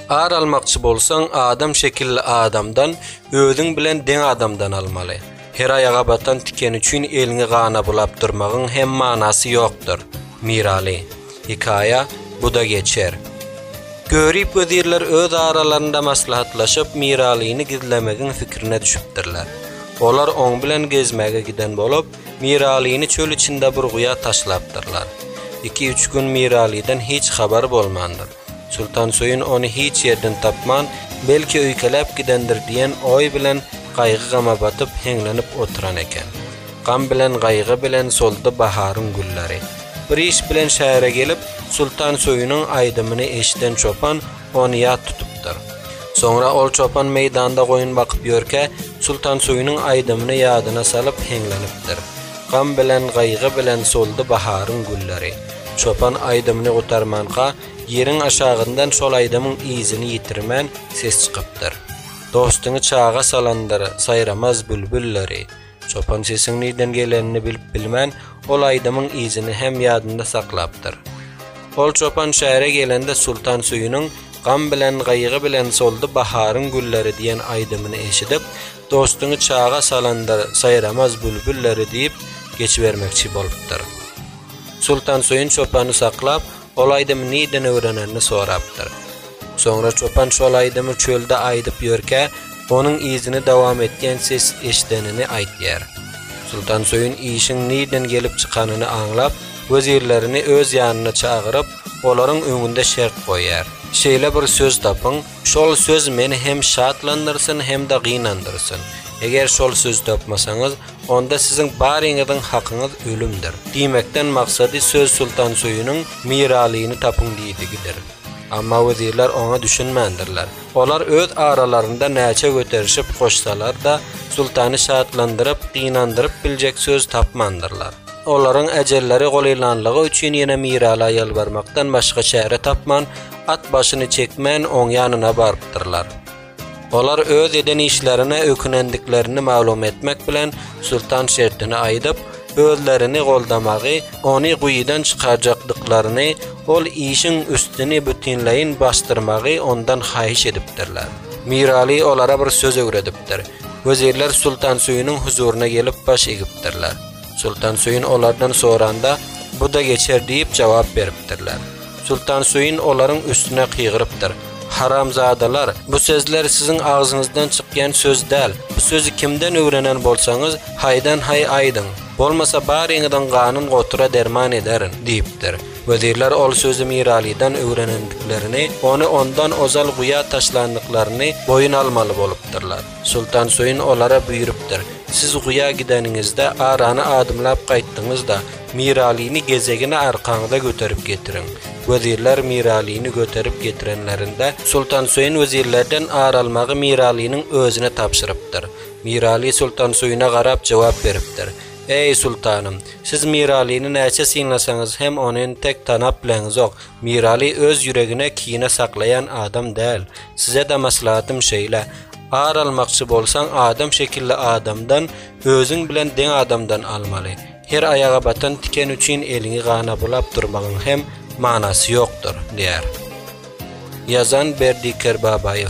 Ar almakçy bolsaň, adam şekilli adamdan, özüň bilen deň adamdan almaly. Her aýaga batan tiken üçin eliňi gana bulap durmagyň hem manasy ýokdur. Miraly. Hekaýa, Bu-da geçer. Görip wezirler öz aralarynda maslahatlaşyp, Miralyny gizlemegiň pikirine düşüpdirler. Olar oň bilen gezmäge giden bolup, Miralyny çöl içinde bir guýa taşlapdyrlar. Iki-üç gün Miralydan hiç habar bolmandyr. Sultansöýün ony hiç ýerden tapman, belki öýkeläp gidendir diýen oý bilen gaýgy-gama batyp, heňlenip oturan eken. Gam bilen gaýgy bilen soldy baharyň gülleri. Bir iş bilen şähere gelip, Sultansöýüniň aýdymyny eşiden çopan ony ýat tutupdyr. Soňra ol çopan meýdanda goýun bakyp ýörkä, Sultansöýüniň aýdymyny ýadyna salyp heňlenipdir. Gam bilen, gaýgy bilen soldy baharyň gülleri. Çopan aýdymyny gutarmanka, ýeriň aşagyndan şol aýdymyň yzyny ýitirmän, ses çykypdyr. Dostuňy çaga salandyr, saýramaz bülbülleri. Çopan sesiň nirden gelenini bilip bilmän, ol aýdymyň yzyny hem ýadynda saklapdyr. Ol çopan şähere gelende Sultan Süýüniň Gam bilen, gaýgy bilen soldy baharyň gülleri diýen aýdymyny eşidip, Dostuňy çaga salandyr, saýramaz bülbülleri diýip, geçibermekçi bolupdyr. Sultan Süýün çopany saklap, Ol aýdymy nirden öwrenenini sorapdyr. Soňra çopan şol aýdymy çölde aýdyp ýörkä, onuň yzyny dowam etýän ses eşidenini aýdýar. Sultansöýün işiň nirden gelip çykanyny aňlap, wezirlerini öz ýanyna çagyryp, olaryň öňünde şert goýýar. Şeýle bir söz tapyň, Şol söz meni hem şatlandyrsyn, hem-de gynandyrsyn. Eger şol sözi tapmasaňyz, onda siziň baryňyzyň hakyňyz ölümdir. Diýmekden maksady söz Sultansöýüniň Miralyny tapyň diýdigidir. Amma wezirler oňa düşünmändirler. Olar öz aralarynda näçe göterişip goşsalar-da, Sultany şatlandyryp, gynandyryp biljek söz tapmandyrlar. Olaryň ejelleri golylanlygy üçin ýene Miraly ýalbarmakdan başga çäre tapman, At başyny çekmän oň ýanyna barypdyrlar. Olar öz eden işlerine ökünendiklerini maglum etmek bilen Sultan şertini aýdyp, özlerini goldamagy, ony guýydan çykarjakdyklaryny, ol işiň üstüni bütinleýin basdyrmagy ondan haýyş edipdirler. Miraly olara bir söz öwredipdir. Wezirler Sultan Söýüniň huzuryna gelip baş egipdirler. Sultan Söýün olardan soranda, Bu-da geçer diýip jogap beripdirler. Sultan Suin olaryň üstüne gygyrypdyr. Haramzadalar, bu sözler siziň agzyňyzdan çykýan söz däl. Bu sözi kimden öwrenen bolsaňyz, haýdan-haý aýdyň. Bolmasa baryňyzyň ganyn gotura derman ederin, diýipdir. Wezirler ol sözi Miralydan öwrenendiklerini, ony ondan ozal guýa taşlandyklaryny boýun almaly bolupdyrlar. Soltan Söýün olara buýrupdyr, Siz guýa gideniňizde arany adymlap gaýtdyňyz-da, Miralyny gezegine arkaňyza göterip getiriň. Wezirler Miralyny göterip getirenlerinde, Soltan Söýün wezirlerden ar almagy Miralynyň özüne tabşyrypdyr. Miraly Soltan Söýüne garap jogap beripdir, Eý, soltanym, siz Miralyny näçe synlasaňyz hem ony entek tanap bileňizok. Miraly öz ýüregine kine saklaýan adam däl. Sizede maslahatym şeýle, ar almakçy bolsaň adam şekilli adamdan, özüň bilen deň adamdan almaly. Her aýaga batan tiken üçin eliňi gana bulap durmagyň hem manasy ýokdur, diýär. Ýazan Berdi Kerbabaýew.